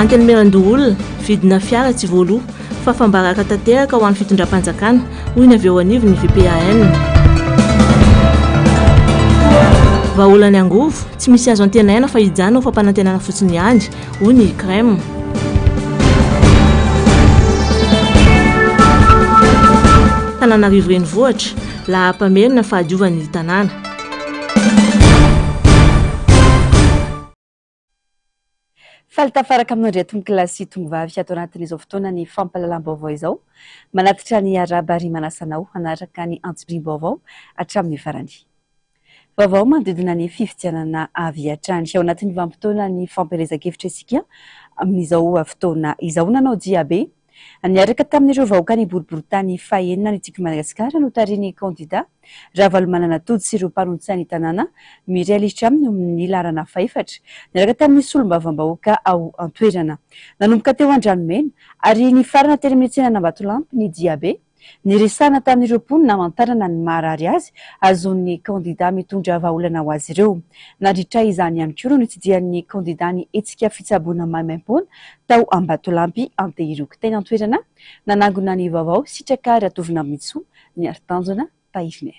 Antenimierandoholona, Vidina fiara tsy voaloa fa fambaraka tanteraka ho an'ny fitondram-panjakana, hoy ny avy eo anivon'ny VPAN. Vahaolan'ny angovo, Tsy misy azo antenaina fa hijanona ho fampanantenana fotsiny ihany, hoy ny Crème. Tananarivo Renivohitra, lahampamerina fahadiovana ny tanàna. Faly tafaraka aminao indray tompokolahy sy tongovavy ato anatin'izao fotoana ny fampahalalam-baovao izao. Manatitra ny Arahaba ary manasa anao hanaraka ny antsipiriam-baovao hatramin'ny farany. Vaovao manodidina ny fifidianana avy hatrany. Ao anatin'ny vanim-potoanan'ny fampielezan-kevitra isika amin'izao fotoana izao. Nanao diabe niaraka tamin'ireo vahoaka ny boriborintany fahenina ny Tiko Madagasikara notarihin'ny kandida Ravalomanana Tojo sy ireo mpanolotsain'ny tanàna mirealitra ny laharana fahefatra niaraka tamin'ny solombavambahoaka ao an-toerana. Nanomboka teo Andranomena ary nifarana teny amin'ny tsenan'Ambatolampy ny diabe. Niresahana tamin'ireo mponina hamantarana ny maharary azy hahazoan'ny kandidà mitondra vahaolana ho azy ireo. Nandritra izany ihany koa no nitsidihan'ny kandidà ny hetsika fitsaboana maimaimpoana tao Ambatolampy Antehiroky teny an-toerana nanangona ny vaovao Sitraka Ratovinambinintsoa Miaritanjona Tahirinay.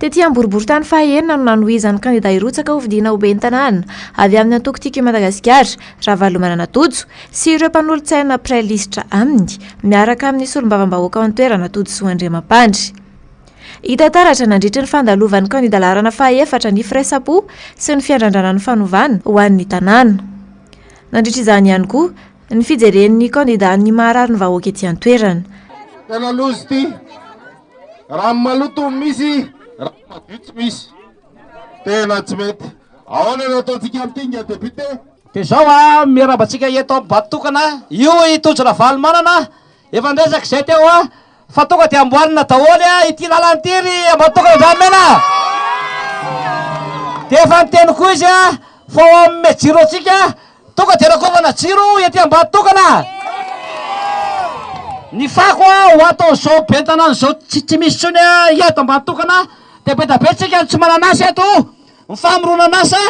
Tety amin'ny boriboritany fahaenina no nanohizan'ny kandida hirotsaka ho fidiana ho ben'ny tanàna avy amin'ny antoko Tiako i Madagasikara, Ravalomanana Tojo, sy ireo mpanolotsaina mpiray lisitra aminy, miaraka amin'ny solombavambahoaka ao an-toerana Todisoa Andriamampandry. Hita taratra nandritry ny fandalovan'ny kandida laharana fahaefatra ny firaisam-po sy ny fiandrandrana ny fanovana ho an'ny tanàna. Nandritra izany ihany koa ny fijeren'ny kandida ny maharary ny vahoaka ety an-toerana. Tena loza ity. Rano maloto no misy, rano madio tsy misy. Tena tsy mety. Ahoana no ataontsika amin'ity nga député? Dia izao a, miarahaba antsika eto amin'ny Bato tokana, io i Tojo Ravalomanana, Efa niresaka izay teo aho fa tonga dia amboarina daholo ity lalana ity ry Ambatondokana Andrianimena a! Dia efa niteny koa izy fa ho amin'ny jiro antsika tonga dia rakofana jiro ety Ambatondokana. Ny fako ho ataon'izao ben'ny tanàna izao tsy misy intsony eto Ambatondokana dia be dia be isika no tsy manana asa eto. Ny famoronan'asa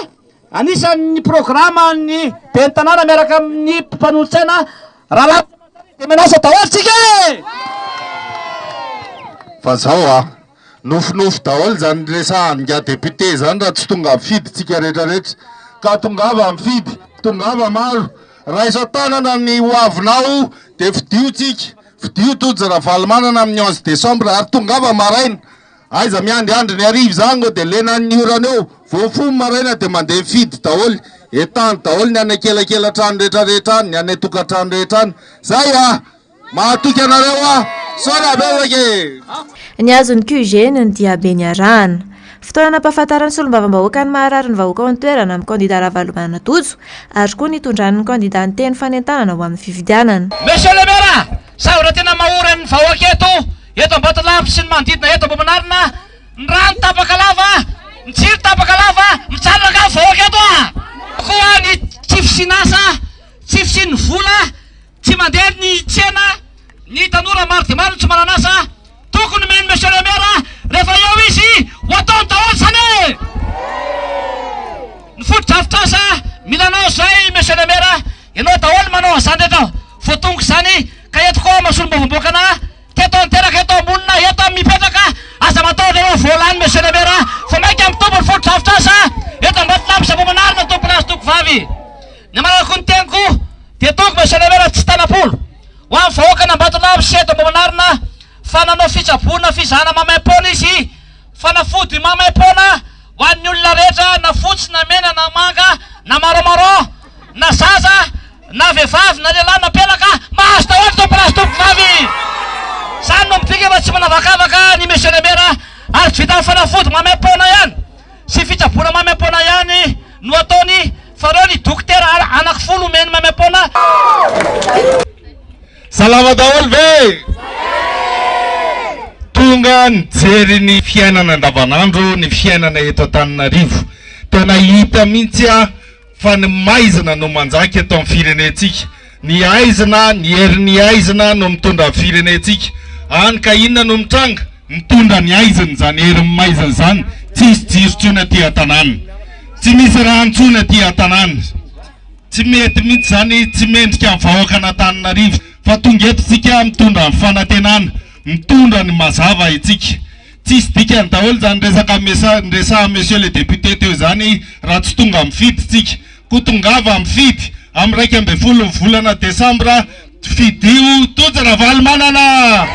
Anisan' ny programa an' ny Ben'ny Tanàna miaraka amin' ny mpanolotsaina Rahalahy Jean-Marie de Menasse daholo tsika e! Fa zao a! Nofinofy daholo zany resahan ingahy député zany raha tsy tonga mifidy tsika rehetra rehetra ka tongava mifidy tongava maro raiso an-tanana ny ho avinao dia fidio tsika fidio Tojo Ravalomanana amin'ny onze décembre ary tongava maraina Aiza miandry andry ny hariva izany ngo dia lena an'ny orana eo, voafono maraina dia mandeha mifidy daholo, entahandry daholo ny any ankelakelatrano rehetra rehetra any, ny any antokantrano rehetra any. Zay a! Mahatoky anareo aho. Misaona betsaka e! Ny azon'ny QG no ny diabe niarahana. Fotoana nampahafantaran'ny solombavambahoaka ny maharary ny vahoaka ao an-toerana amin'ny kandida Ravalomanana Tojo ary koa nitondran'ny kandida ny teny fanentanana ho amin'ny fifidianana. Monsieur le Maire, Zavatra tena mahory an'ny vahoaka eto, eto Ambatolavitra sy ny manodidina eto Ambohimanarina, ny rano tapaka lava, ny jiro tapaka lava, mijanona angaha ny vahoaka eto a! Eo koa ny tsy fisian'asa, tsy fisian'ny vola, tsy mandeha ny tsena, ny tanora maro dia maro no tsy manana asa, tokony mihaino Monsieur le Maire rehefa eo izy ho ataony daholo izany e! Ny fotodrafitrasa mila anao izay Monsieur le Maire, Ianao daholo manao an'izany rehetra voatongo izany ka eto koa mahasolombavam-boakana teto an-teraka eto am-bonina eto mipetraka aza matahotra anao voalany monsieur le maire fa maika mitombo ny fotodrafitrasa eto Ambatonambo sy Ambohimanarina tompolahy sy tompovavy ny amanako ny teniko dia tongo monsieur le maire tsy tanam-polo ho an'ny vahoakan' Ambatonambo sy eto Ambohimanarina fa nanao fitsaboana fizahana maimaim-poana izy fanafody maimaim-poana ho an'ny olona rehetra na fotsy na mena na manga na marron marron na zaza na vehivavy na lehilahy na pelaka mahazo daholo Tompo raha azy Tompovavy zany no midika fa tsy manavakavaka ny Monsieur le Maire ary tsy vitan'ny fanafody maimaim-poana ihany sy fitsaboana maimaim-poana ihany no ataony fa reo ny dokotera anaky folo omeny maimaim-poana Salama daholo ve? Tonga nijery ny fiainana andavanandro ny fiainana eto Antananarivo. Tena hita mihitsy a. Fa ny maizina no manjaka eto amin'ny firenentsika. Ny aizina, ny herin'ny aizina no mitondra ny firenentsika. Hany ka inona no mitranga? Mitondra ny aizina izany herin'ny maizina izany. Tsy misy jiro intsony aty an-tanàna. Tsy misy rano intsony aty an-tanàna. Tsy mety mihitsy izany, tsy mendrika ny vahoakan'Antananarivo. Fa tonga eto isika mitondra ny fanantenana, mitondra ny mazava itsika. Tsisy dikany daholo izany resaka niresahan'i Monsieur le député teo izany raha tsy tonga mifidy isika. Koa tongava mifidy amin'ny iraika ambin'ny folo ny volana desambra, fidio Tojo Ravalomanana!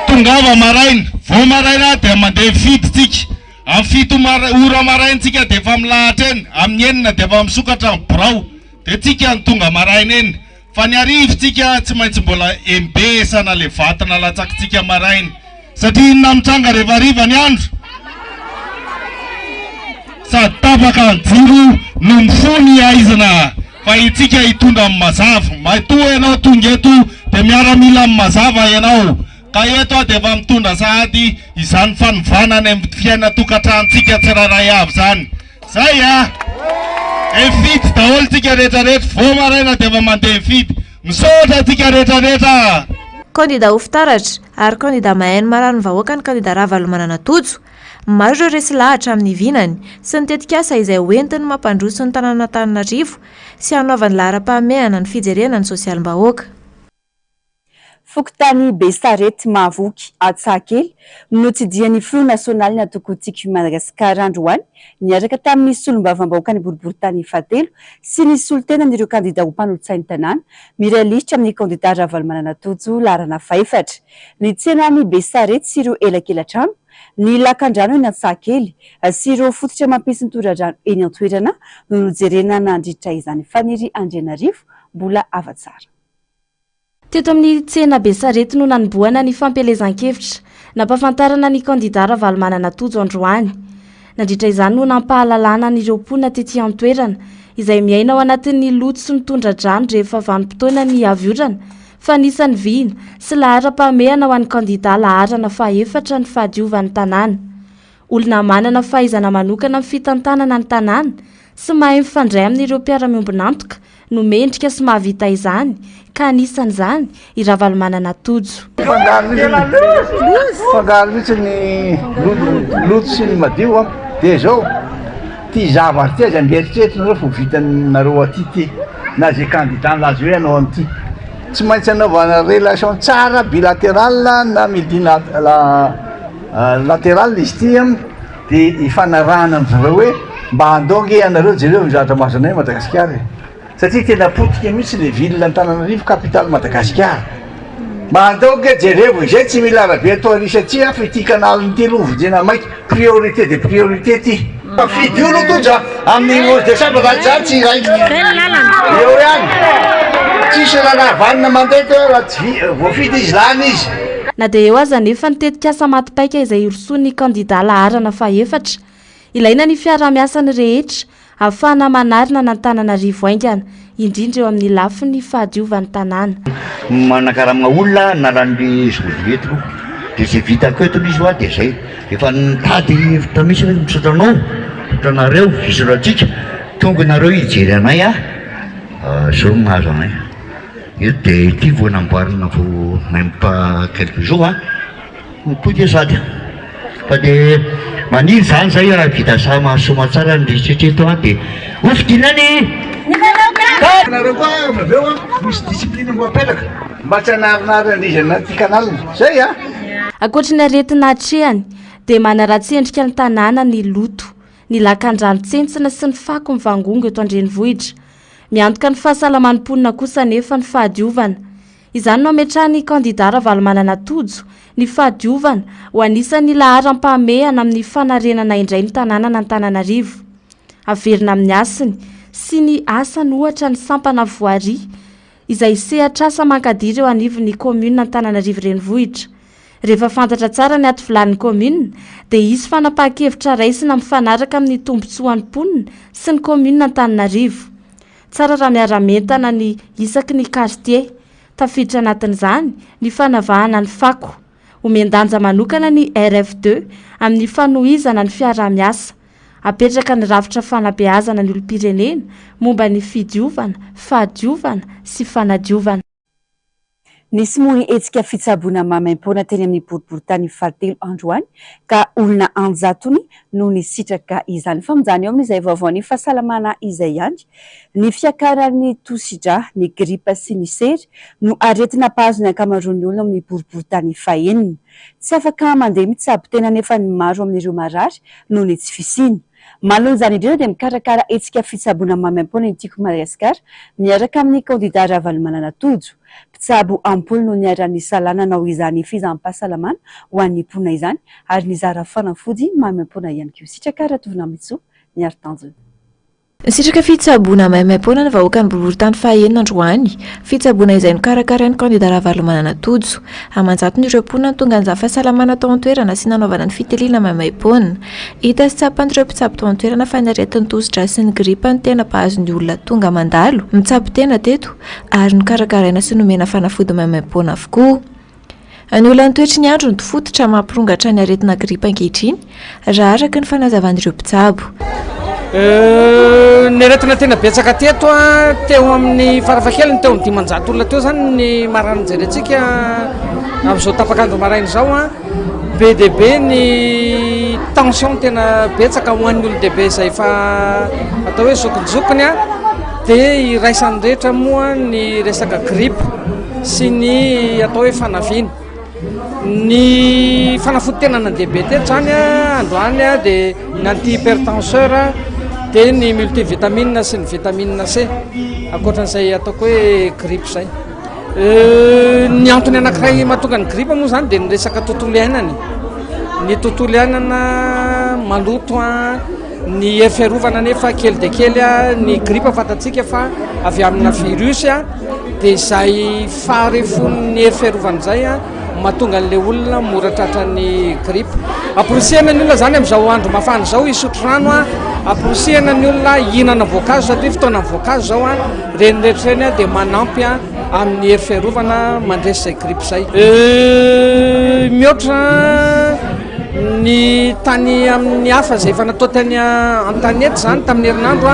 Tongava maraina, vao maraina dia mandeha mifidy isika. Amin'ny fito ora maraina isika dia efa milahatra eny, amin'ny enina dia efa misokatra ny birao, dia tsika no tonga maraina eny. Fa ny arivontsika tsy maintsy mbola embesana le vato nalatsakintsika maraina. Satria inona no mitranga rehefa hariva ny andro? Sady tapaka ny jiro no mifoha ny haizina. Fa itsika hitondra ny mazava. Matoa ianao tonga eto dia miaramila amin'ny mazava ianao. Ka eto aho dia efa mitondra sahady izany fanovana any amin'ny fiaina tokantranontsika tsirairay avy izany. Zay a! Mifidy daholo tsika rehetra rehetra, vao maraina dia efa mandeha mifidy. Misaotra antsika rehetra rehetra. Kandida ho fitaratra ary kandida mahaino marary ny vahoaka ny kandida Ravalomanana Tojo. Maro ireo resy lahatra amin'ny vinany sy ny tetikasa izay ho entiny mampandroso ny tanànan'Antananarivo sy hanaovany laharam-pahamehana ny fijerena ny sosialim-bahoaka. Fokontany Besarety Mahavoky Antsahakely, notsidihan'ny Filoha Nasionalin'ny Antoko Tiako Madagasikara androany, niaraka tamin'ny Solombavambahoakan'ny Boriboritany fahatelo sy ny solontenan'ireo kandida ho mpanolotsain'ny tanàna, miray lisitra amin'ny kandida Ravalomanana Tojo laharana fahefatra, ny tsenan'i Besarety sy ireo elakelatrano, ny lakandrano eny Antsahakely sy ireo fototra mampisy ny toradrano eny an-toerana no nojerena nandritra izany. Faniry Andrianarivo, Mbola hava tsara. Teto amin'ny tsena Besarety no nanombohana ny fampielezan-kevitra nampahafantarana ny kandidà Ravalomanana Tojo androany. Nandritra izany no nampahalalana an'ireo mponina tety an-toerana izay miaina ao anatin'ny loto sy ny tondra-drano rehefa vanim-potoana ny avy orana fa anisan'ny vina sy laharam-pahamehana ho an'ny kandidà laharana faha efatra ny fahadiovan'ny tanàna Olona manana fahaizana manokana amin'ny fitantanana ny tanàna sy mahay mifandray amin'ireo mpiara-miombon'antoka no mendrika sy mahavita izany ka anisan'izany i Ravalomanana Tojo. Mifangaro mihitsy ny loto sy ny madio an! Dia izao, ity zavatra ity aza mba eritreretinareo fa ho vitanareo aty ity na izay kandida nilaza hoe hanao an'ity. Tsy maintsy anaovana relation tsara bilateral na multilateral. Lateral izy ity an, de ifanarahana amin'i jereo hoe mba andao ange ianareo jereo ny zavatra mahazo anay Madagasikara e! satria tena potika mihitsy le ville Antananarivo capitale Madagasikara, mba andao ange jerevo e! zay tsy mila arabe atao ary satria hafa ity canal ity aloha hovidiana maika, priorité des priorités ity. Mpifidy olo tondra amin'ny onze decembre zany zany tsy hiraikitra eo ihany tsisy raharaha vanona mandeha teo raha tsy voafidy izy lany izy. Na dia eo aza anefa ny tetikasa maty paika izay hirosoan'ny kandidà laharana fahefatra, ilaina ny fiaraha-miasan'ny rehetra ahafahana manarina an'Antananarivo haingana indrindra eo amin'ny lafiny fahadiovan'ny tanàna. Manakarama olona analan'ny zokibe eto aloha dia izay vitako eto aloha izy hoa dia izay efa nitady hevitra mihitsy aho hoe misaotra anao, misaotra anareo fisoratsika, tonga ianareo hijery anay a, izao no nahazo anay eto dia ity vao namboarina vao même pas quelques jours a. Ho potika io sady. Fa dia maniry izany izay raha vita saha mahasoa tsara ny rehetra eto an dia ho fidina ny Ny vahoaka! Ianareo koa avy aveo an, misy discipline mbo apetraka mba tsy hanarinary an-driza anaty canal. Zay an! Ankoatry ny aretina atrehany, dia manaratsy endrika ny tanàna ny loto, ny lakandrano tsentsina sy ny fako mivangongo eto an-drenivohitra. Miantoka ny fahasalaman'ny mponina kosa anefa ny fahadiovana. Izany no ametrahan'ny kandidà Ravalomanana Tojo ny fahadiovana ho anisan'ny laharam-pahamehana amin'ny fanarenana indray ny tanànan'Antananarivo. Haverina amin'ny hasiny sy ny asany ohatra ny sampana voirie izay sehatr'asa mankadiry eo anivon'ny kaominina Antananarivo Renivohitra. Rehefa fantatra tsara ny aty vilanin'ny kaominina dia hisy fanapahan-kevitra raisina mifanaraka amin'ny tombontsoan'ny mponina sy ny kaominina Antananarivo. Tsara raha miara-mientana ny isaky ny kartie. Tafiditra anatin'izany ny fanavahana ny fako. Omen-danja manokana ny RFD amin'ny fanohizana ny fiaraha-miasa. Apetraka ny rafitra fanabeazana ny olom-pirenena momba ny fidiovana, fahadiovana sy fanadiovana. Nismory hetsika fitsaboana maimaimpoana teny amin'ny boriborintany fahatelo androany ka olona an-jatony no nisitraka izany. Fa mijanona eo amin'izay vaovaon'ny fahasalamana izay ihany, ny fiakaran'ny tosidra, ny gripa sy ny sery no aretina mpahazo ny ankamaroan'ny olona ao amin'ny boriborintany fahenina. Tsy afaka mandeha mitsabo tena anefa ny maro amin'ireo marary noho ny tsy fisiany. Manoloana izany indrindra dia mikarakara hetsika fitsaboana maimaim-poana ny Tiako Madagasikara miaraka amin'ny kandidà Ravalomanana Tojo. Mpitsabo am-polo no niara-nisalahy nanao izany fizaham-pahasalamana ho an'ny mponina izany ary nizara fanafody maimaim-poana ihany koa. Sitraka Ratovonamitsoa ny aro tanjona. Nisitraka fitsaboana maimaim-poana ny vahoakan'ny boriborintany fahaenina androany. Fitsaboana izay nokarakarain'ny kandidà Ravalomanana Tojo. Aman-jatony ireo mponina no tonga nizara fahasalamana tao an-toerana sy nanaovana ny fitiliana maimaim-poana. Hita sy tsapan'ireo mpitsabo tao an-toerana fa ny aretin'ny tosi-drà sy ny gripa no tena mpahazo ny olona tonga mandalo mitsabo tena teto ary nokarakaraina sy nomena fanafody maimaimpoana avokoa. An'olana toetry ny andro no fototra mampirongatra ny aretina gripa ankehitriny raha araka ny fanazavan'ireo mpitsabo. Ny aretina tena betsaka teto a, teo amin'ny farafahakeliny teo amin'ny dimanjato olona teo izany ny marary nojerentsika amin'izao tapak'andro maraina izao a. Be dia be ny tension tena betsaka ho an'ny olon-dehibe izay efa atao hoe zokinjokiny dia iraisan'ny rehetra moa ny resaka gripa sy ny atao hoe fanaviana. Ny fanafodin-tena nandeha be teto izany androany dia ny anti-hypertenseur dia ny multivitamine sy ny vitamine C. Ankoatra an'izay ataoko hoe gripa izay. Ny antony anankiray mahatonga ny gripa moa zany dia ny resaka tontolo iainana e. Ny tontolo iainana maloto an, ny hery fiarovana nefa kely dia kely an, ny gripa fantatsika fa avy amina virus dia izay faharefon'ny hery fiarovana izay an. Mahatonga an'ilay olona mora tratran'ny grippe. Amporisihana ny olona izany amin'izao andro mafana izao hisotro rano, amporisihana ny olona hihinana voankazo satria fotoanan'ny voankazo izao. Ireny rehetra ireny dia manampy amin'ny hery fiarovana mandresy izay grippe izay. Mihoatra ny tany amin'ny hafa izay efa natao tany an-tanety izany tamin'ny herinandro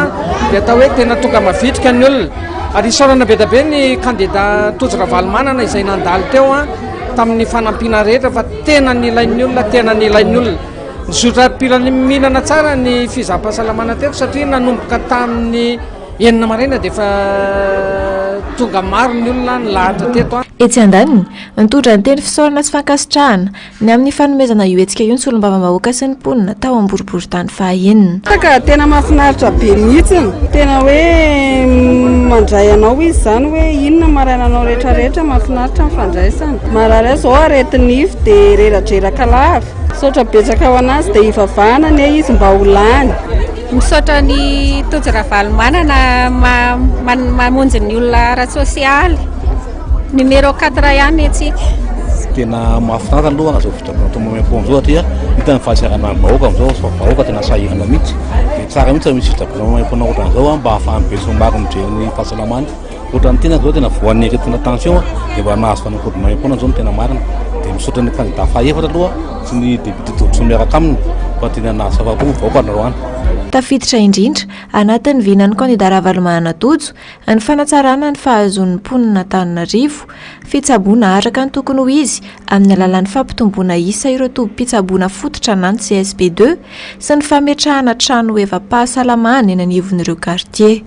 dia atao hoe tena tonga mavitrika ny olona. Ary isaorana be dia be ny kandida Tojo Ravalomanana izay nandalo teo tamin'ny fanampiana rehetra fa tena nilain'ny olona, tena nilain'ny olona. Nizotra am-pilaminana tsara ny fizaham-pahasalamana teto satria nanomboka tamin'ny enina maraina dia efa tonga maro ny olona nilahatra teto. Etsy andaniny, nitondra ny teny fisaorana sy fankasitrahana Ny amin'ny fanomezana io hetsika io ny solombavambahoaka sy ny mponina tao Amboriboritany faha enina. Ka tena mahafinaritra be mihitsiny, tena hoe mandray anao izy izany hoe inona maraina anao rehetra rehetra, mahafinaritra ny fandraisana, marary azy izao areti nify dia reradreraka lava, misaotra betsaka ho anazy dia hivavahana anie izy mba ho lany. Misaotra an'i Tojo Ravalomanana mamonjy ny olona ara-tsosialy. Numéro quatre ihany antsika. Tena mahafinaritra aloha izao fotoana atao moyen pont izao satria hita ny fahasiaranan'ny vahoaka amin'izao fa vahoaka tena sahirana mihitsy. Dia tsara mihitsy raha misy fijagoana moyen pont ohatran'izao mba ahafahan'ny besinimaro mijery ny fahasalamany. Ohatran'ny tena izao tena voan'ny aretina tension dia mba nahazo fanafody moyen pont izao no tena marina. Dia misaotra ny kandida fahefatra aloha sy ny député Todisoa miaraka aminy fa tena nahazo afa-po ny vahoaka androany. Tafiditra indrindra anatin'ny vinan'ny kandida Ravalomanana Tojo Ny fanatsarana ny fahazoan'ny mponin'Antananarivo fitsaboana araka ny tokony ho izy amin'ny alalan'ny fampitomboana isa ireo tobim-pitsaboana fototra na ny CSP deux sy ny fametrahana trano hoevam-pahasalamana eny anivon'ireo kartie.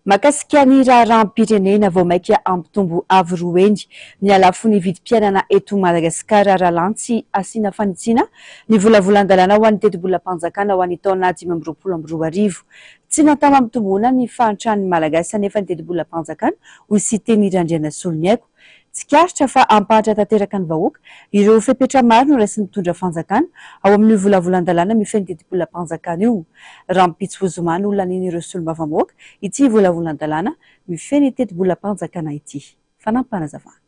Mahakasika ny raharaham-pirenena vao maika hampitombo avo roa heny ny halafon'ny vidim-piainana eto Madagasikara raha lany tsy asiana fanitsiana ny volavolan-dalàna ho an'ny tetibolam-panjakana ho an'ny taona dimy amby roapolo amby roa arivo. Tsy natao hampitomboana ny fahantran'ny Malagasy anefa ny tetibolam-panjakana, hoy Siteny Randrianasolo Niaiko. Tsikaritra fa hampahatra tanteraka ny vahoaka ireo fepetra maro noraisin'ny mpitondra fanjakana ao amin'io volavolan-dalàna mifehy ny tetibolam-panjakana io. Rahampitso ho zoma no lanian'ireo solombavambahoaka ity volavolan-dalàna mifehy ny tetibolam-panjakana ity. Fanampin'Panazavana.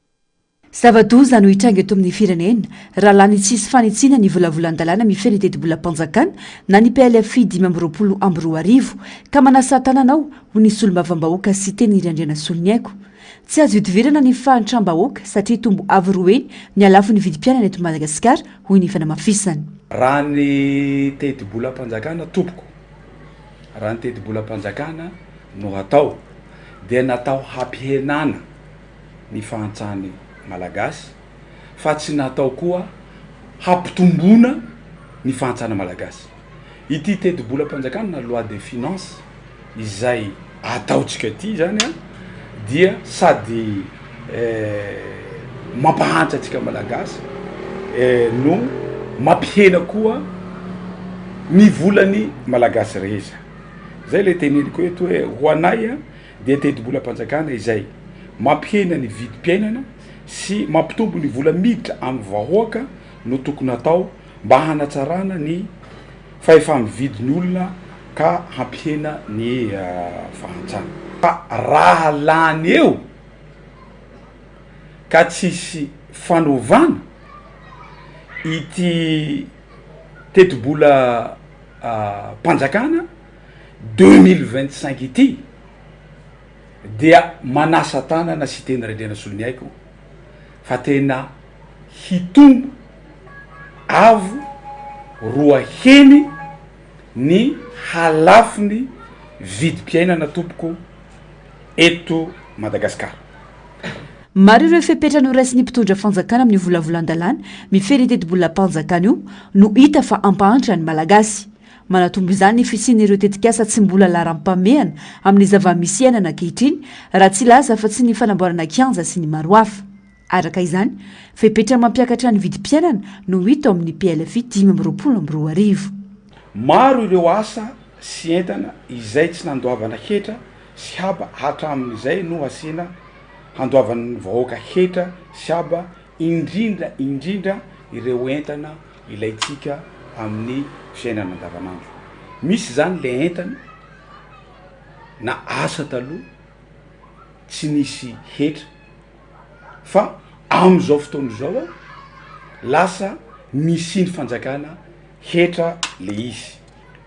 Zava-doza no hitranga eto amin'ny firenena raha lany tsy hisy fanitsiana ny volavolan-dalàna mifehy ny tetibolam-panjakana na ny PLFI dimy amby roapolo amby roa arivo ka manasa tanana aho ho ny solombavambahoaka Siteny Randrianasoloniaiko. Tsy azo idivirana ny fahantram-bahoaka satria tombo avo roe ny halafon'ny vidim-piainana eto Madagasikara hoy ny fanamafisany. Raha ny tetibolam-panjakana tompoko, raha ny tetibolam-panjakana no hatao dia natao hampihenana. ny fahantrany malagasy fa tsy natao koa hampitomboana ny fahantrana malagasy ity tetibolam-panjakana na loi de finance izay ataontsika ity izany a dia sady mampahantra antsika malagasy no mampihena koa ny volany malagasy rehetra zay le teneniko eto hoe ho anay a dia tetibolam-panjakana izay mampihena ny vidim-piainana sy mampitombo ny vola miditra amin'ny vahoaka no tokony atao mba hanatsarana ny fahefa-mividy ny olona ka hampihena ny fahantrana. Fa raha lany eo ka tsisy fanovana, ity tetibolam-panjakana, deux mille vingt cinq ity dia manasa tanana sy teny rendrena soloniaiko fa tena hitombo avo roa heny ny halafon'ny vidim-piainana tompoko eto Madagasikara. Maro ireo fepetra noraisin'ny mpitondra fanjakana amin'io volavolan-dalàna mifehy ny tetibolam-panjakana io no hita fa hampahantra ny Malagasy. Manatombo izany ny fisian'ireo tetikasa tsy mbola laharam-pahamehana amin'ny zava-misy iainana ankehitriny, raha tsy hilaza afa-tsy ny fanamboarana kianja sy ny maro hafa. Araka izany, fepetra mampiakatra ny vidim-piainana no hita ao amin'ny PLFI dimy amby roapolo amby roa arivo. Maro ireo asa sy entana izay tsy nandoavana hetra sy haba hatramin'izay no hasiana handoavan'ny vahoaka hetra sy haba indrindra indrindra ireo entana ilaintsika amin'ny fiainana andavanandro. Misy izany ilay entana na asa taloha tsy nisy hetra fa amin'izao fotoana izao lasa nisian'ny fanjakana hetra le izy.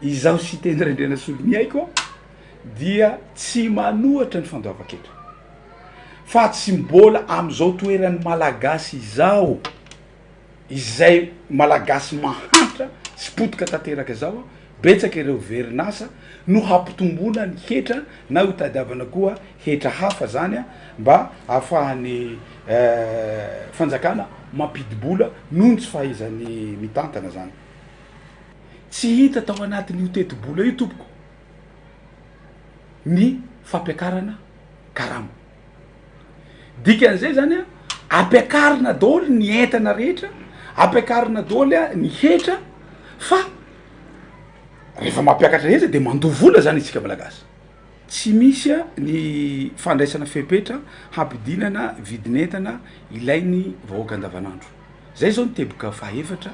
Izaho Siteny Raindrianasoloniaiko dia tsy manohatra ny fandoavan-ketra. fa tsy mbola amizao toerany malagasy izao izay malagasy mahantra sy potika tanteraka zao a betsaka ireo verinasa no hampitomboana ny hetra na ho tadiavana koa hetra hafa zany a mba afahany fanjakana mampidibola noho ny tsy fahaizany mitantana zany tsy hita tao anatin'io tetibola io tompoko ny fampiakarana karama. Dikan'izay zany a, ampiakarina daholo ny entana rehetra, ampiakarina daholo a ny hetra fa rehefa mampiakatra hetra de mandoa vola zany isika malagasy. Tsy misy a ny fandraisana fepetra hampidinana vidin'entana ilain'ny vahoaka andavanandro. Zay zao ny teboka fahaefatra,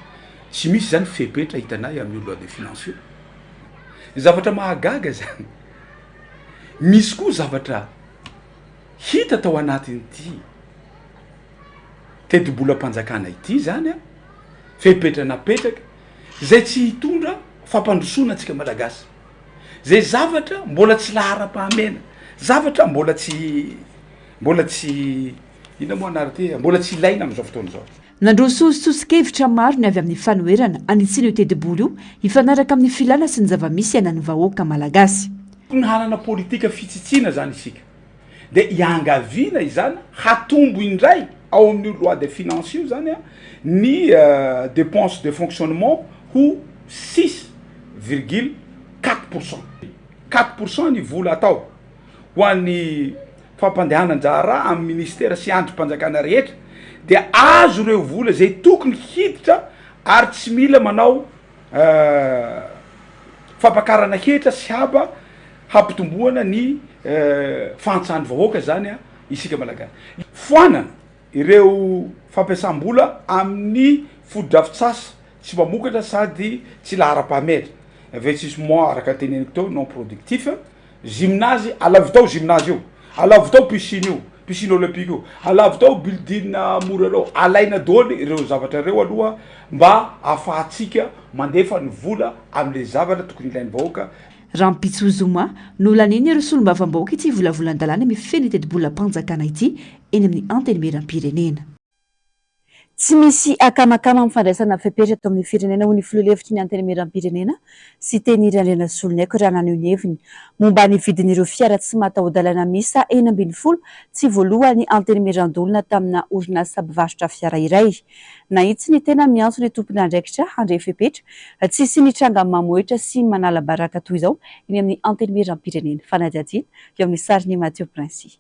tsy misy zany fepetra hitanay amin'ny loi de finance io. Zavatra mahagaga izany. Misy koa zavatra hita tao anatin'ity tetibolam-panjakana ity izany an, fepetra napetraka izay tsy hitondra fampandrosoana antsika Malagasy. Izay zavatra mbola tsy laharam-pahamena, zavatra mbola tsy mbola tsy inona moa anarany ity, mbola tsy ilaina amin'izao fotoana izao. Nandroso soso-kevitra maro ny avy amin'ny fanoherana hanitsiana io tetibola io hifanaraka amin'ny filàna sy ny zava-misy iainan'ny vahoaka malagasy. Tokony hanana politika fitsitsiana izany isika. Dia iangaviana izany hatombo indray ao amin'io loi de finances io izany ny dépenses de fonctionnement ho six virgule quatre pour cent. Quatre pour cent ny vola atao ho an'ny fampandehanan-draharaha amin'ny minisitera sy andrim-panjakana rehetra dia azo ireo vola izay tokony hiditra ary tsy mila manao fampakarana hetra sy haba hampitomboana ny fahantsahan'ny vahoaka izany isika Malagasy. Foanana ireo fampiasam-bola amin'ny fotodrafitsasa tsy mpamokatra sady tsy laharam-pahamehatra, investissement araka ny teneniko teo non productif, Gymnase, alavo tao gymnase io, alavo tao piscine io, piscine olympique io, alavo tao building mora ireo, alaina daholo ireo zavatra ireo aloha mba ahafahantsika mandefa ny vola amin'ilay zavatra tokony ilain'ny vahoaka. Rahampitso zoma, nolaniany ireo solombavambahoaka ity volavolan-dalàna mifehy ny tetibolam-panjakana ity eny amin'ny Antenimierampirenena. Tsy misy akamakama amin'ny fandraisana fepetra eto amin'ny firenena, hoy ny filoha lefitry ny Antenimierampirenena, Siteny Randrianasolonaiko raha naneho ny heviny momba ny vidin'ireo fiara tsy mataho-dalana miisa enina ambin'ny folo tsy voalohan'ny Antenimierandoholona tamina orinasa mpivarotra fiara iray. Nahitsy ny tena miantso ny tompon'andraikitra handray fepetra tsy hisian'ny tranga mamohehitra sy manala baraka toy izao eny amin'ny Antenimierampirenena, fanadihadiana eo amin'ny sarin'i Mathieu Princix.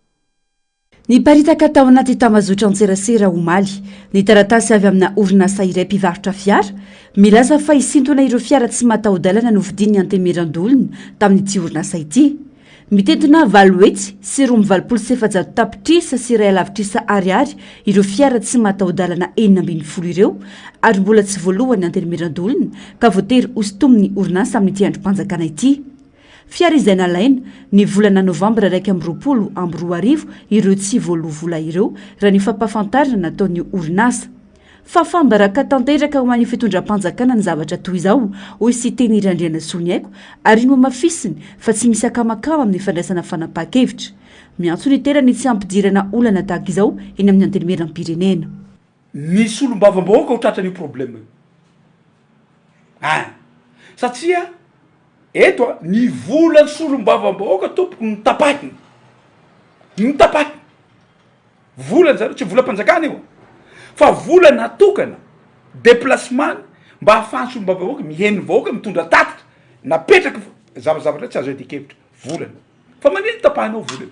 Niparitaka tao anaty tambazotran-tserasera omaly ny taratasy avy amina orinasa iray mpivarotra fiara milaza fa hisintona ireo fiara tsy mataho-dalana novidian'ny Antemirandolona tamin'ity orinasa ity. Mitentina valo hetsy sy roa amby valopolo sy efajato tapitrisa sy iray halavitrisa ariary ireo fiara tsy mataho-dalana enina ambin'ny folo ireo ary mbola tsy voaloan'ny Antemirandolona ka voatery hosintomin'ny orinasa amin'ity andrim-panjakana ity. Fiara izay nalaina, ny volana novambra iraika amby roapolo amby roa arivo, ireo tsy voaloa vola ireo, raha ny fampahafantarana nataon'ny orinasa. Fahafaham-baraka tanteraka ho an'ny fitondram-panjakana ny zavatra toy izao, hoy Siteny Randrianasoniaiko, ary nohamafisiny fa tsy misy akamakama amin'ny fandraisana fanapahan-kevitra. Miantso ny tena ny tsy hampidirana olana tahaka izao eny amin'ny Antenimierampirenena. Ny solombavambahoaka ho tratran'io problème io an! satria eto a ny volan'ny solombavambahoaka tompoko notapahiny notapahiny volan'ny zareo tsy volam-panjakana io fa vola natokana déplacement-ny mba ahafahan'ny solombavambahoaka miheno ny vahoaka mitondra tatitra napetraky zavazavatra tsy azo iadian-kevitra volana fa manino tapahinao vola io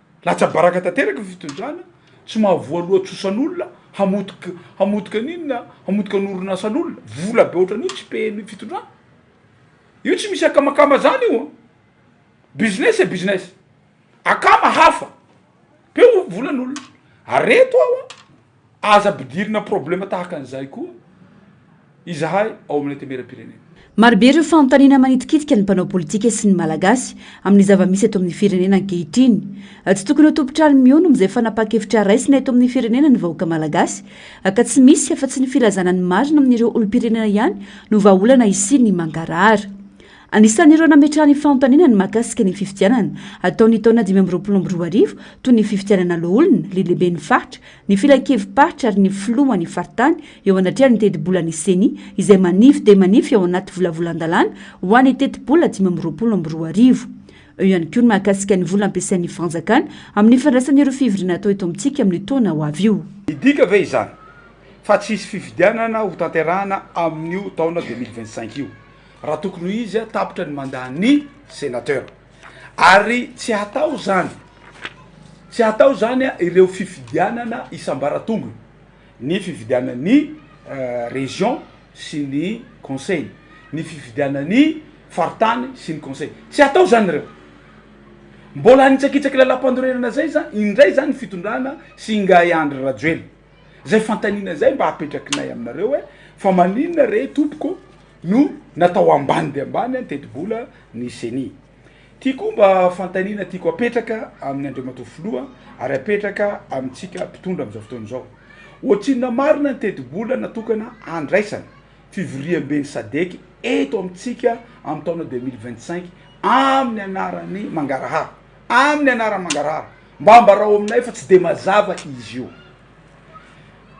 Latsa-baraka tanteraka ny fitondrana, tsy mahavoa loha trosan'olona, hamotika hamotika ny inona, hamotika ny orinasan'olona, vola be ohatran'io tsy pehin'ny fitondrana. Io tsy misy akamakama zany io an! Business c'est business. Akama hafa, peo volan'olona. Ary reto aho an! Aza ampidirina problème tahaka an'izay koa izahay ao amin'ny antenimieram-pirenena. Marobe ireo fanontaniana manitikitika ny mpanao politika sy ny Malagasy amin'ny zava-misy eto amin'ny firenena ankehitriny. Tsy tokony ho tompon-trano mihono amin'izay fanapahan-kevitra raisina eto amin'ny firenena ny vahoaka Malagasy ka tsy misy afa-tsy ny filazana ny marina amin'ireo olom-pirenena ihany no vahaolana hisian'ny mangarahara. Anisan'ireo nametraha ny fanontaniana ny mahakasika ny fifidianana hatao ny taona dimy amby roapolo amby roa arivo toy ny fifidianana loholona, lehilehben'ny faritra, ny filankevi-paritra ary ny filoha ny faritany eo anatrehan'ny tetibolan'ny Ceni izay manify dia manify ao anaty volavolan-dalàna ho an'ny tetibola dimy amby roapolo amby roa arivo. Eo ihany koa ny mahakasika ny vola ampiasain'ny fanjakana amin'ny fandraisana ireo fivoriana atao eto amintsika amin'io taona ho avy io. Midika ve izany fa tsy hisy fifidianana hotanterahana amin'io taona deux mille vingt-cinq io? raha tokony ho izy tapitra ny mandat ny senateur ary tsy hatao zany tsy hatao zany a ireo fifidianana isambaratongony ny fifidianan'ny region sy ny conseil ny fifidianan'ny faritany sy ny conseil tsy hatao zany reo mbola anitsakitsaky lalam-pandorerana zay za indray zany fitondrana sy ingahy andry rajoelina zay fantanina zay mba apetrakinay aminareo hoe fa maninona re tompoko no natao ambany dia ambany ny tetibola ny ceni. Ity koa mba fanontaniana tiako apetraka amin'ny Andriamatoa Filoha ary apetraka amintsika mpitondra amin'izao fotoana izao. Ohatrinona marina ny tetibola natokana handraisana fivoriamben'ny sadec eto amintsika amin'ny taona deux mille vingt cinq amin'ny anaran'ny mangarahara, amin'ny anaran'ny mangarahara. Mba ambarao aminay fa tsy dia mazava izy io.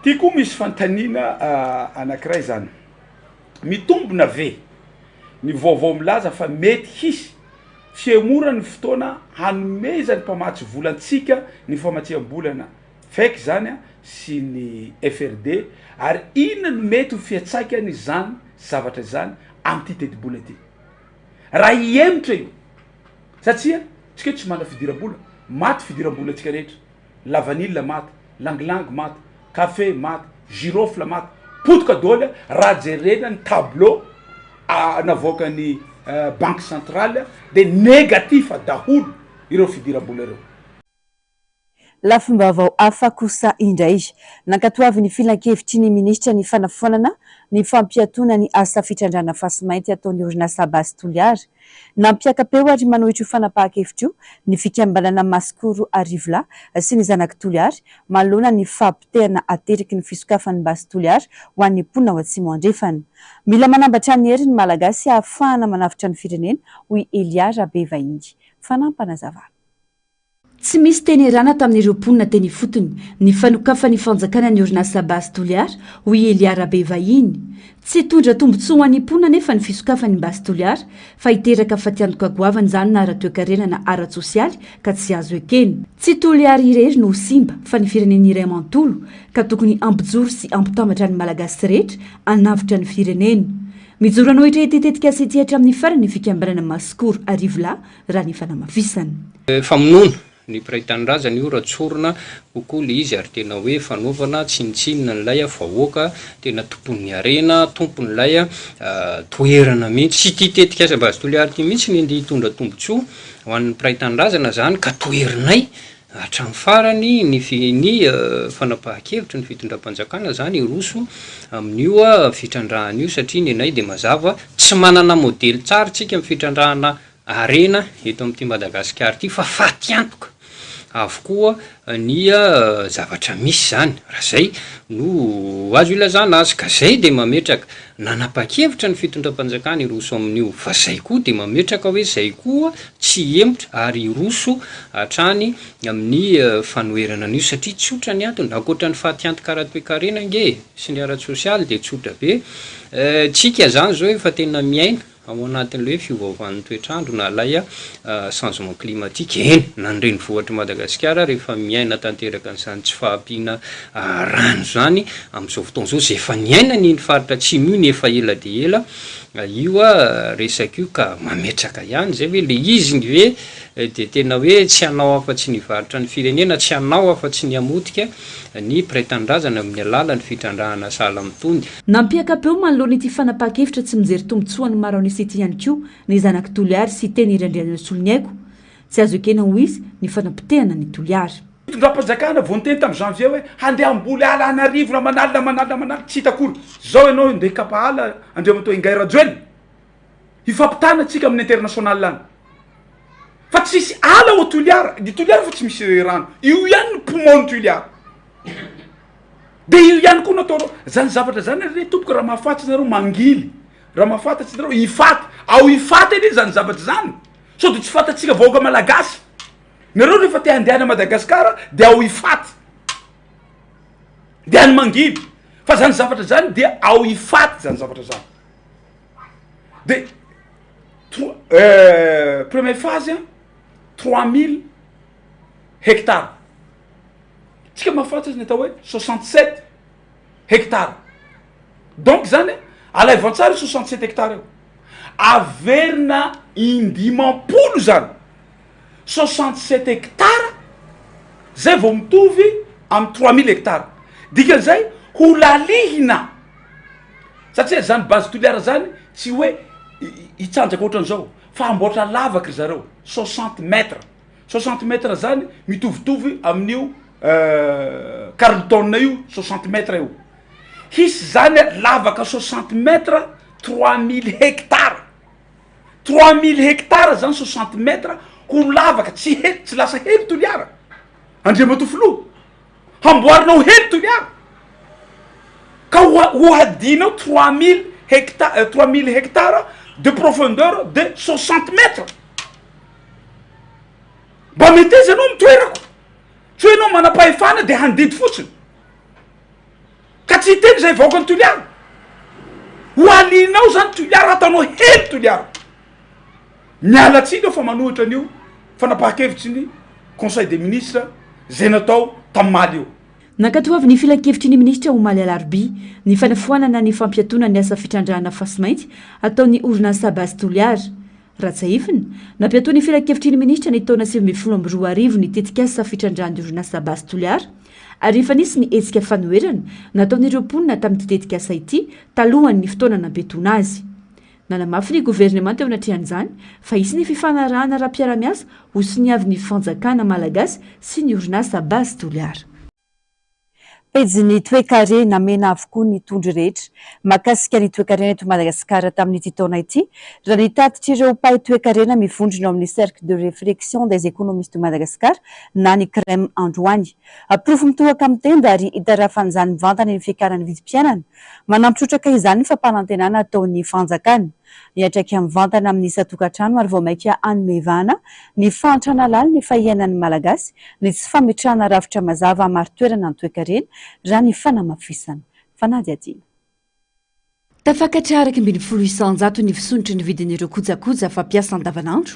Ity koa misy fanontaniana anankiray izany. Mitombina ve? Ny vaovao milaza fa mety hisy fihemorana ny fotoana hanomezan'ny mpamatsy vola antsika ny famatsiam-bolana fake izany sy ny FRD ary inona no mety ho fiantsaikan'izany zavatra izany amin'ity tetibola ity raha hihemotra io satsia tsika tsy manana fidiram-bola, maty fidiram-bolantsika rehetra. lavanila maty, langilangy maty, kafe maty, girofle maty, potika doly a, raha jerena ny tableau a navoakan'ny banque centrale a de negatif daholo ireo fidiram-bola ireo. Lafim-baovao hafa kosa indray. Nankatoavin'ny Filankevitry ny Minisitra ny fanafoanana ny fampiatoana ny asa fitrandrahana fasimainty ataon'ny orinasa Base Toliara Nampiaka-peo ary manohitra io fanapahan-kevitra io ny fikambanana Masikoro Arivolahy sy ny Zanak'i Toliary manoloana ny fahapotehana ateraky ny fisokafan'ny basy Toliary ho an'ny mponina ao Atsimo Andrefana. Mila manambatra ny hery ny Malagasy hahafahana manavotra ny firenena, hoy Elia Rabevahiny. Fanampanazavan'. Tsy misy teny erana tamin'ireo mponina teny ifotony ny fanokafan'ny fanjakana ny orinasa Base Toliara hoy i Elia Rabevahiny. Tsy hitondra tombontsoa ho an'ny mponina anefa ny fisokafan'ny Base Toliara fa hiteraka fatiantoka goavana izany na ara-toekarena na ara-tsosialy ka tsy azo ekena. Tsy Toliara irery no ho simba fa ny firenena iray manontolo ka tokony hampijoro sy hampitambatra ny Malagasy rehetra hanavotra ny firenena. Mijoro hanohitra ity tetikasa ity hatramin'ny farany ny fikambanana Masikoro Arivolahy raha ny fanamafisana. Famonoana ny mpiray tanindrazana io raha tsorina kokoa le izy ary tena hoe fanaovana tsinontsinona an'ilay vahoaka tena tompon'ny harena, tompon'ilay toerana mihitsy. Tsy ity tetikasa Base Toliary ity mihitsy ny andeha hitondra tombotsoa ho an'ny mpiray tanindrazana zany ka toherinay. Hatramin'ny farany ny fi, ny fanapahan-kevitry ny fitondram-panjakana izany hiroso amin'io fitrandrahana io satria nenay dia mazava tsy manana modely tsara isika amin'ny fitrandrahana harena eto amin'ity Madagasikara ity fa fatiantoka avokoa ny zavatra misy izany raha izay no azo ilazana azy ka izay dia mametraka nanapa-kevitra ny fitondram-panjakana hiroso amin'io fa izay koa dia mametraka hoe izay koa tsy hihemotra ary hiroso hatrany amin'ny fanoherana an'io satria tsotra ny antony, ankoatra ny fatiantoka ara-toekarena ange e! sy ny ara-tsosialy dia tsotra be eh, tsika izany izao efa tena miaina ao anatin'ilay hoe fiovaovan'ny toetr'andro na ilay changement climatique, eny na ny renivohitr'i Madagasikara rehefa miaina tanteraka an'izany tsy fahampiana rano izany amin'izao fotoana izao, izay efa niainany iny faritra atsimo iny efa ela dia ela A io a resaka io ka mametraka ihany izay hoe le izy ny ve dia tena hoe tsy hanao afa tsy ny hivarotra ny firenena tsy hanao afa tsy ny hamotika ny mpiray tanindrazana amin'ny alalan'ny fitrandrahana sahala mitony Nampiaka-peo manoloana ity fanapahan-kevitra tsy mijery tombontsoan'ny maro an'isa ity ihany koa ny zanak'i Toliary sy teny Irandrianirasolo Ny aiko tsy azo ekena ho izy ny fanapotehana an'i Toliary. Fitondram-panjakana vao niteny tamin'ny janvier hoe handeha hamboly ala any Arivona aman'alina aman'alina aman'alina tsy hita akory. Izao ianao ndeha hikapa ala Andriamatoa Ingahy Rajoelina hifampitana antsika amin'ny international any. Fa tsisy ala ao Toliara, i Toliara efa tsy misy rano, io ihany ny poumon-n'i Toliara. Dia io ihany koa no ataonao. Izany zavatra izany re tompoko raha mahafaty ianareo mangily, raha mahafantatry ianareo hifaty, ao hifaty anie izany zavatra izany sao dia tsy fantatsika vahoaka malagasy. Nareo rehefa te handehana Madagascar de ao Ifaty de any Mangily fa zany zavatra zany dia ao Ifaty zany zavatra zany de tro- euh, premier phase a trois mille hectares tsika mahafatsy azy ny atao hoe soixante sept hectares. Donc zany alaivo an-tsary io soixante sept hectares io. Averina indimam-polo zany soixante sept hectares zay vao mitovy amin'ny trois mille hectares. Dikan'izay ho lalihina satria zany base toliara zany tsy hoe hitsanjaka ohatran'izao fa hamboatra lavaka ry zareo soixante mètres. Soixante mètres zany mitovitovy amin'io Carlton io soixante mètres io. Hisy zany lavaka soixante mètres trois mille hectares. Trois mille hectares zany soixante mètres ho lavaka tsy hely tsy lasa hely Toliara. Andriamatoa Filoha. Hamboarina ho hely Toliara. Ka ho hadinao trois mille hectares trois mille hectares de profondeur de soixante mètres. Mba meteza anao ny toerako tsy hoe enao manam-pahefana de handidy fotsiny ka tsy hiteny zay vahoaka ny toliara ho alinao zany toliara ataonao hely toliara miala tsiny eo fa manohitra an'io fanapahan-kevitry ny conseil des ministres zay natao tamin'ny maly io Nankatoavin'ny Filankevitry ny Minisitra omaly alarobia ny fanafoanana ny fampiatoana ny asa fitrandrahana fasimainty ataon'ny orinasa Base Toliara. Rajaefina, nampiatoa ny Filankevitry ny Minisitra ny taona sivy ambin'ny folo amby roa arivo ny tetikasa fitrandrahan'ny orinasa Base Toliara ary efa nisy ny hetsika fanoherana nataon'ireo mponina tamin'ity tetikasa ity talohan'ny fotoana nampiatoana azy. Nanamafy ny governemanta eo anatrehan'izany fa hisy ny fifanarahana ara-piarahamiasa hosoniavin'ny fanjakana malagasy sy ny orinasa Base Toliara. Pejin'ny toekare namena avokoa ny tondro rehetra mahakasika ny toekarena eto Madagasikara tamin'ity taona ity, raha ny tatitr'ireo mpahay toekarena mivondrona ao amin'ny Cercle de réflexion des économistes de Madagascar na ny CREM androany. Porofo mitohaka amin'ny tenda ary itarafan'izany mivantana ny fiakaran'ny vidim-piainana. Manampy trotraka izany ny fampanantenana ataon'ny fanjakana. Miantraika mivantana amin'ny isan-tokantrano ary vao mainka hanome vahana ny fahantrana lalin'ny fahiainan'ny Malagasy ny tsy fametrahana rafitra mazava hamari-toerana ny toekarena, raha ny fanamafisana. Fanadihadiana. Tafakatra iraika ambin'ny folo isanjato ny fisondrotry ny vidin'ireo kojakoja fampiasa andavanandro,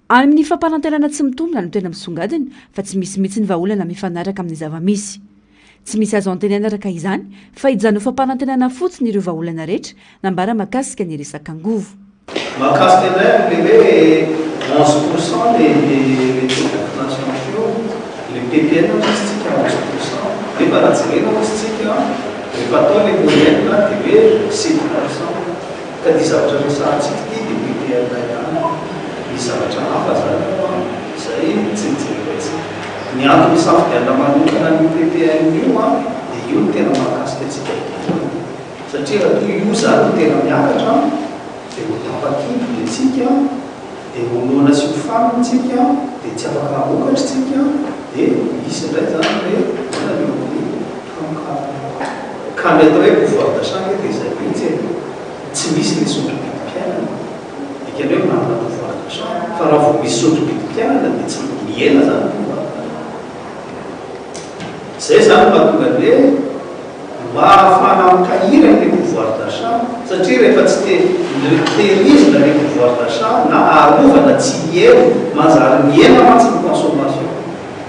Any amin'ny fampanantenana tsy mitombina no tena misongadina fa tsy misy mihitsy ny vahaolana mifanaraka amin'ny zava-misy. Tsy misy azo antenaina araka izany fa hijanona ho fampanantenana fotsiny ireo vahaolana rehetra nambara mahakasika ny resaka angovo. Mahakasika indray an'ilay hoe onze pour cent le le le taux de vaccination flu, le ppn hozy tsika onze pour cent, nefa raha jerena hozy tsika rehefa atao le moyenne dia hoe sept pour cent. Ka ity zavatra resahantsika ity dia PPLA ihany, misy zavatra hafa zany ao an, izay tsy nojerentsika. Ny antony isafidianana manokana an'io PPLA io an, dia io no tena mahakasika antsika voalohany. Satria raha toa io zany no tena miakatra an, dia ho tapakinto ny antsika an. Dia honoana sy ho faly ntsika dia tsy afaka hamokatry ntsika dia hisy indray izany hoe olana eo amin'ny hamokarana. Ka ny atao hoe pouvoir d'achat ange dia izay mihitsy e! Tsy misy ilay sotrobidim-piainana dikany hoe manana pouvoir d'achat fa raha vao misy sotrobidim-piainana dia tsy mihena izany pouvoir d'achat. Izay izany no mahatonga ny hoe mba ahafahana mitahira ny pouvoir d'achat satria rehefa tsy te milterisme ny pouvoir d'achat na arovana tsy hiely manjary mihena mantsy ny consommation.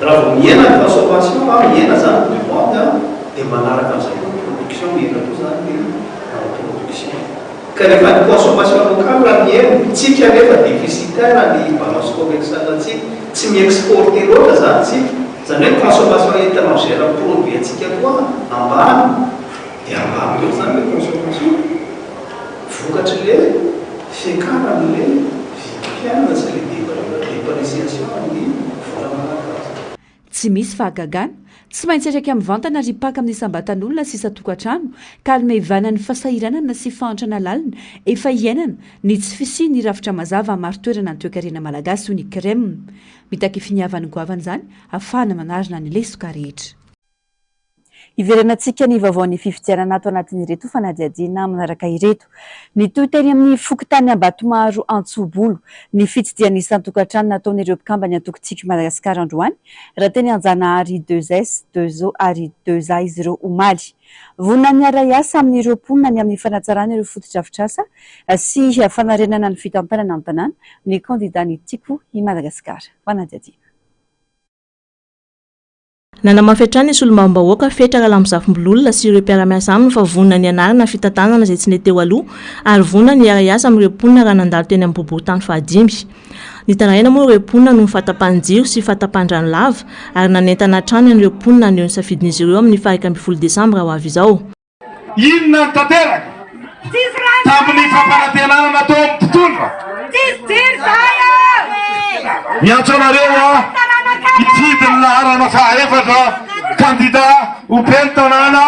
Raha vao mihena ny consommation na mihena izany ny demande an dia manaraka an'izay koa ny production mihena koa izany ny production. Ka rehefa ny consommation locale raha mihena, tsika anefa déficitaire ny balance commerciale tsika, tsy mi-exporter loatra izany tsika, Izany hoe consommation étrangère ny produit antsika koa ambany dia ambany koa izany ilay consommation vokatry ilay fiakaran' ilay vidim-piainana sy ilay depré, depréciation ny vola malagasy. Tsy misy fahagagana. Tsy maintsy atraka mivantana ry mpaka amin'ny isam-batan'olona sy isan-tokantrano ka almevana ny fasahiranana sy fahantrana lalina efa iainana ny tsy fisian'ny rafitra mazava hamari-toerana ny toekarena malagasy hoy ny Crem. Mitaky finiavany goavana izany afahana manarina ny lesoka rehetra. Hiverenantsika ny vaovaon'ny fifidianana ato anatin'ireto fanadihadiana manaraka ireto. Nitohy teny amin'ny fokontany Ambatomaro Antsobolo ny fitsidihana isan-tokantrano nataon'ireo mpikamban'ny antoko Tiako i Madagasikara androany, raha teny Anjanahary deux es, deux zo ary deux za izy ireo omaly. Vonona ny hiara-hiasa amin'ireo mponina ny amin'ny fanatsarana ireo fotodrafitrasa sy fanarenana ny fitantanana an-tanàna ny kandidan'ny Tiako i Madagasikara. Fanadihadiana. Nanamafy hatrany ny solombavambahoaka Fetra Ralambozafimbololona sy ireo mpiara-miasa aminy fa vonona ny hanarina ny fitantanana izay tsy nety teo aloha ary vonona ny hiara-hiasa amin'ireo mponina raha nandalo teny amin'ny boriborintany fahadimy. Nitaraina moa ireo mponina noho ny fahatapahan-jiro sy fahatapahan-drano lava ary nanentana hatrany an'ireo mponina haneho ny safidin'izy ireo amin'ny faha iraika ambin'ny folo desambra ho avy izao. Inona no tanteraka tamin'ny fampanantenana nataon'ny mpitondra? Miantso anareo hifidy ny laharana fahaefatra kandida ho ben'ny tanàna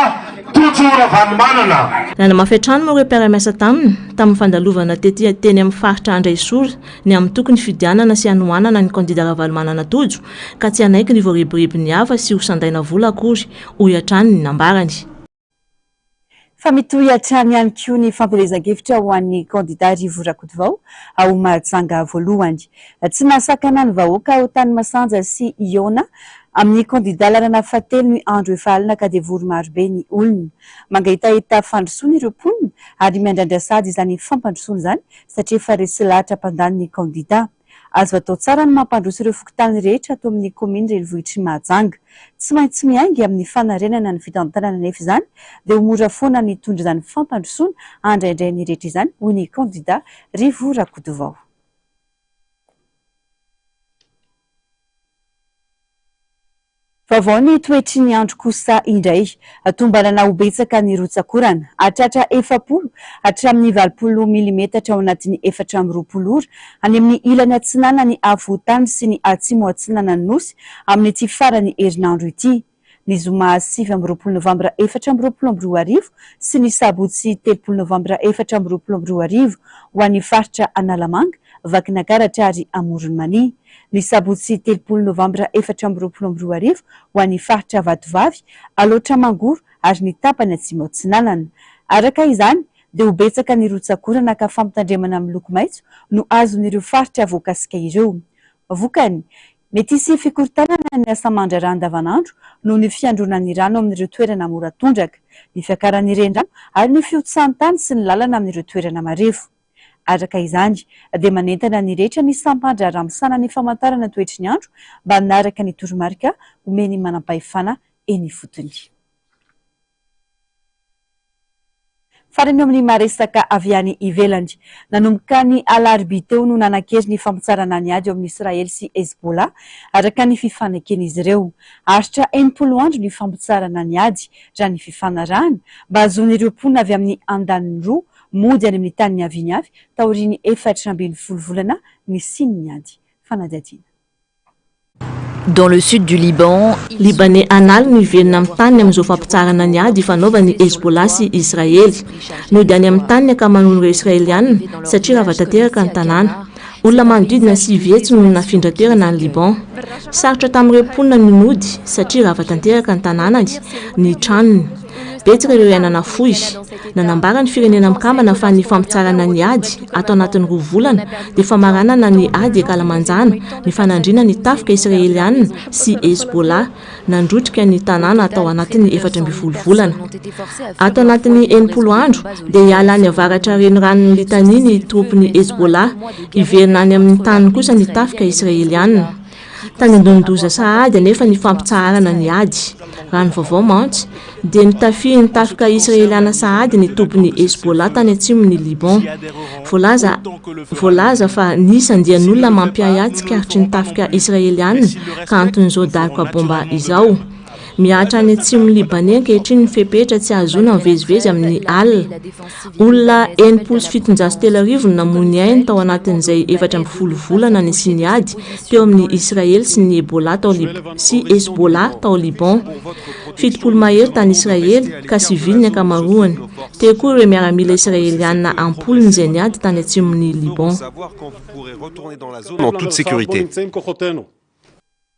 Tojo Ravalomanana. Nanamafy hatrany moa ireo mpiara-miasa taminy tamin'ny fandalovana tety teny amin'ny faritra Andraisora ny antoko nifidianana sy hanohanana ny kandida Ravalomanana Tojo ka tsy hanaiky ny voarebiribin'ny hafa sy ho sandaina vola akory, hoy hatrany ny nambarany. Fa mitohy hatrany ihany koa ny fampielezan-kevitra ho an'ny kandida Rivo Rakotovao ao Mahajanga voalohany. Tsy nahasakana ny vahoaka ao Tanimasanja sy Iona amin'ny kandida lalana fahatelo ny andro efa alina ka devory marobe ny olona. Mangaitahita fandrosoana ireo mponina ary miandrandra sahady izany fampandrosoana izany satria efa resy lahatra mpandany ny kandida. Azo atao tsara ny mampandroso ireo fokontany rehetra ato amin'ny kaominina renivohitr'i Mahajanga. Tsy maintsy miainga amin'ny fanarenana ny fitantanana anefa izany dia ho mora foana ny hitondra izany fampandrosoana handraindray ny rehetra izany, hoy ny kandida Rivo Rakotovao. Vaovao ny toetry ny andro kosa indray. Tombanana ho betsaka ny rotsak'orana, hahatratra efapolo hatramin'ny valopolo milimetatra ao anatin'ny efatra amby roapolo ora, any amin'ny ilany atsinanan'ny afovoan-tany sy ny atsimo-atsinanan'ny Nosy amin'ity faran'ny herinandro ity. ny zoma sivy amby roapolo novambra efatra amby roapolo amby roa arivo sy ny sabotsy telopolo novambra efatra amby roapolo amby roa arivo ho an'ny faritra Analamanga, Vakinankaratra ary Amoron'i Mania, ny sabotsy telopolo novambra efatra amby roapolo amby roa arivo ho an'ny faritra Vatovavy, Alaotra Mangoro ary ny tapany Atsimo Atsinanana. Araka izany dia ho betsaka ny rotsak'orana ka fampitandremana miloko maitso no azon'ireo faritra voakasika ireo. Vokany, Mety hisy fikorontanana ny asa aman-draharaha andavanandro noho ny fiandronan'ny rano amin'ireo toerana mora tondraka, ny fiakaran'ny renirano ary ny fihotsahan'ny tany sy ny lalana amin'ireo toerana marefo. Araka izany, dia manentana ny rehetra ny sampan-draharaha misahana ny famantarana ny toetry ny andro mba hanaraka ny toromarika omen'ny manampahefana eny ifotony. Farany eo amin'ny maha-resaka avy any ivelany. Nanomboka ny alarobia teo no nanan-kery ny fampitsarana ny ady eo amin'i Israely sy Hezbollah, araka ny fifaneken'izy ireo. Haharitra enimpolo andro ny fampitsarana ny ady, raha ny fifanarahana, mba hahazoan'ireo mponina avy amin'ny andaniny roa mody any amin'ny tany niaviany avy taorian'ny efatra ambin'ny folo volana nisian'ny ady. Fanadihadiana. Dans le sud du Liban, Libaney an'ala miverina amin'ny taniny amin'izao fampitsaharana ny ady ifanaovan'ny Hezbollah sy Israely. Nody any amin'ny tany ny ankamaroan'ireo Israeliana satria rava tanteraka ny tanàna. Olona manodidina sivy hetsy no nafindra toerana any Liban. Sarotra tamin'ireo mponina ny nody satria rava tanteraka ny tanànany, ny tranony. Betsaka ireo ihay nanafohy. Nanambara ny Firenena Mikambana fa ny fampitsarana ny ady ato anatin'ny roa volana dia famaranana ny ady ankalamanjana nifanandrina ny tafika Israeliana sy Hezbollah nandrotrika ny tanàna tao anatin'ny efatra ambin'ny folo volana. Ato anatin'ny enimpolo andro dia hiala any avaratra reniranon'i Litani ny tropin'i Hezbollah, hiverina any amin'ny taniny kosa ny tafika Israeliana. Tany an-donin-doza sahady anefa ny fampitsaharana ny ady. Raha ny vaovao mantsy, dia notafihin'ny tafika Israeliana sahady ny tobin'ny Hezbollah tany atsimon'i Liban. Voalaza voalaza fa nisy andian'olona mampiahy ahy tsikaritry ny tafika Israeliana ka anton'izao daroka baomba izao. Mihatra any atsimon'i Libaney ankehitriny ny fepetra tsy hahazoana mivezivezy amin'ny alina. Olona enimpolo sy fitonjato sy telo arivo no namoy ny ainy tao anatin'izay efatra ambin'ny folo volana nisian'ny ady teo amin'i Israely sy ny Ebola tao Lib sy Hezbollah tao Liban. Fitopolo mahery tany Israely, ka sivily ny ankamaroany. Teo koa ireo miaramila Israeliana am-polony izay niady tany atsimon'i Liban.